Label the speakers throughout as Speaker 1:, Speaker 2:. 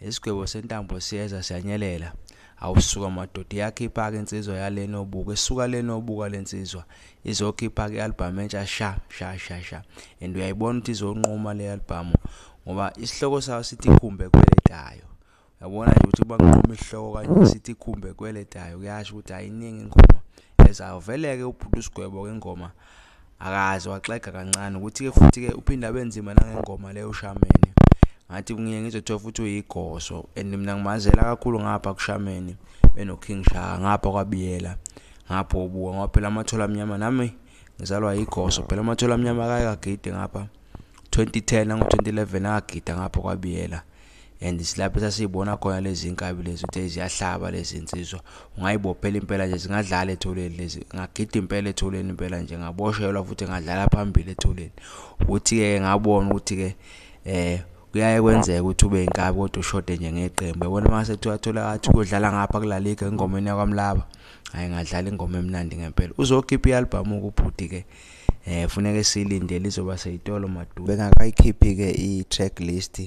Speaker 1: Isigwebo sentambo siyeza siyanyelela. Awusuka madoda iyakhipha-ke insizwa yale nobuka isuka le nobuka le nsizwa izokhipha-ke i-albhamu entsha sha sha sha sha and uyayibona ukuthi izonquma le albhamu ngoba isihloko sayo sithi khumbe kweletayo yabona nje ukuthi banquma isihloko kanje sithi khumbe kweletayo kuyasho ukuthi ayiningi ingoma ezawuvele-ke ubhuti usigwebo-ke ingoma akaze waxega kancane ukuthi-ke futhi-ke uphinde abe nzima nangengoma leyo ushameni ngathi kungiye ngizothola futhi uyigoso and mina ngimazela kakhulu ngapha kushameni benoking shaka ngapha kwabiyela ngapha obuka ngoba phela amathola amnyama nami ngizalwa yigoso phela amathola amnyama akayekagide ngapha 2010 nango-2011 akagida ngapha kwabiyela and silapho sasiyibona khona lezi nkabi lezi ukuthi ziyahlaba lezi nsizwa ungayibophela impela nje zingadlala etholeni lezi ngagida impela etholeni impela nje ngaboshelwa futhi ngadlala phambili etholeni ukuthi-ke ngabona ukuthi-ke um kuyaye kwenzeka ukuthi ube inkabi kodwa ushode nje ngeqembu yabona uma sekuthiwa thola athi kuyodlala ngapha kulaliga engomeni yakwamlaba hhayi ngadlala ingoma emnandi ngempela uzokhipha i-albhamu-ke ubhuti-ke eh funeke silinde lizoba seyitolo madudu bengakayikhiphi ke i-track list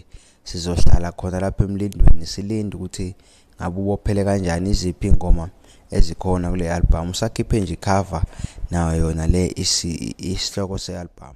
Speaker 1: sizohlala khona lapha emlindweni silinde ukuthi ngabe ubophele kanjani iziphi ingoma ezikhona kule album usakhiphe nje cover nayo yona le isihloko se-album